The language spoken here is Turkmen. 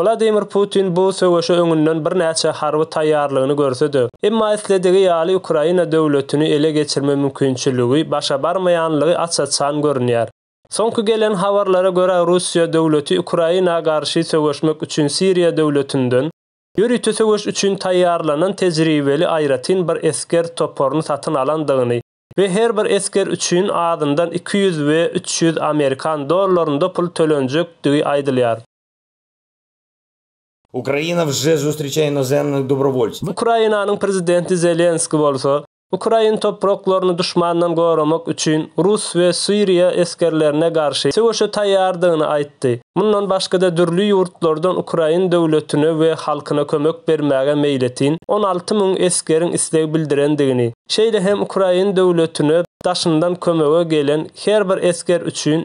Wladimir Putin bu söweşe öňünden birnäçe harby taýýarlygyny görse-de, emma isledigi ýaly Ukraina döwletini ele geçirme mümkinçiligi başa barmaýanlygy aç-açan görünýär. Soňky gelen habarlara görä Russiýa döwleti Ukraina garşy söweşmek üçin Siriýa döwletinden ýörite söweş üçin taýýarlanan tejribeli aýratyn bir esger toparyny satyn alandygyny we her bir esger üçin azyndan iki ýüz we üç ýüz amerikan dollarynda pul tölenjekdigi aýdylýar. Ukraina wže zustryçaýe inozemnych dobrovolctw. Ukrainanyň prezidenti Zelenskiý bolsa, ukrain topraklaryny duşmandan goramak üçin rus we siriýa esgerlerine garşy söweşe taýýardygyny aýtdy, mundan başga-da dürli ýurtlardan ukrain döwletine we halkyna kömek bermäge meýletin on alty müň esgeriň isleg bildirendigini, şeýle hem ukrain döwletine daşyndan kömege gelen her bir esger üçin